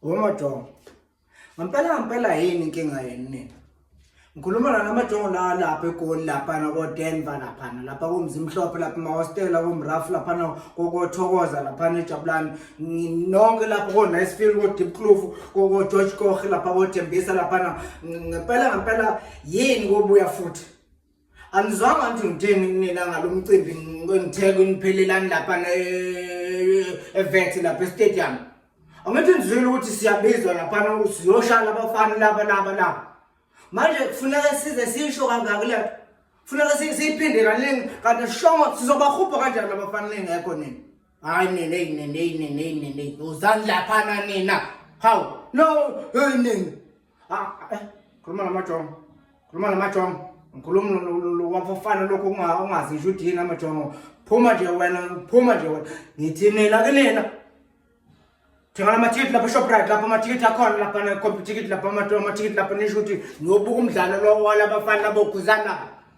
Womajongo. Ngampela ngampela yini inkinga yenu nina? Ngikhuluma la namajongo la lapha eGoli lapha na ko Denver lapha na lapha ko Mzimhlophe lapha ma hostel ko Mraf lapha na ko ko Thokoza lapha ne Jabulani nonke lapha ko Nicefield ko Deep Kloof ko ko George Koch lapha ko Thembisa lapha na ngempela ngempela yini kobuya futhi Angizwanga ukuthi ngitheni kunina ngalomcimbi ngithe kuniphelelani lapha eVet lapha eStadium. Angithi ngizwile ukuthi siyabizwa lapha siyoshaya abafana laba laba laba. Manje kufuneka size sisho kangaka le nto. Kufuneka siyiphinde kaningi kanti sishongo sizobahubha kanjani abafana ningekho nina. Hayi nina hey nina hey nina hey nina. Uzani lapha nina. Hawu no hey nina. Ah, eh, khuluma namajongo khuluma namajongo ngikhuluma wafofana lokhu ungazi ngisho ukuthi yini amajongo phuma nje wena phuma nje wena ngithi nina ke nina thengela amathikithi lapha eshoprite lapha amathikithi akhona lapha necomputikithi lapha amathikithi lapha nisho ukuthi niyobuka umdlalo lo walabafana labokhuzana